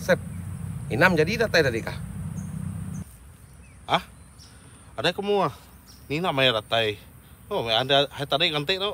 Sep. Inam jadi datai tadi kah? Ah? Ada ke mua? Ni nak maya datai. Oh, ada hai tadi nganti tu.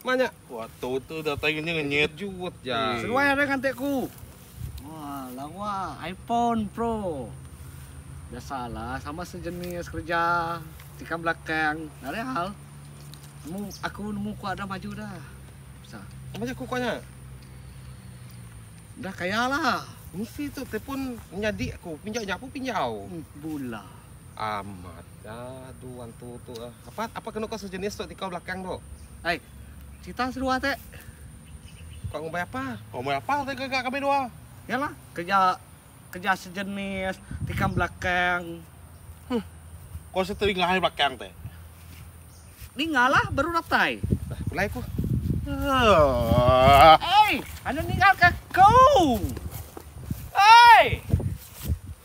Mak nya. Wah tu tu dah tai ngenyit ngenyit. Jut ja. Seduai ada ngante ku. Wah lawa iPhone Pro. Biasa lah sama sejenis kerja tikam belakang nare hal. Nemu aku nemu kuak dah maju dah. Sa. Apa nya ku kuak nya? Dah kaya lah. Mesti tu telepon nyadi aku pinjau nyapu pinjau. Hmm, bula. Amat ga tu antu tu. Apat, apa kenu ka sejenis tu tikau belakang tu? Ai, cita seduwa te. Ka ngumbai apa? Ka ngumbai apa te ga kami duwa? Yalah, keja keja sejenis tikam belakang. Huh. Ko se telinga hai belakang te. Ninga lah baru datai. Dah pulai ku. Ai, anu ninga ka ku. Ai.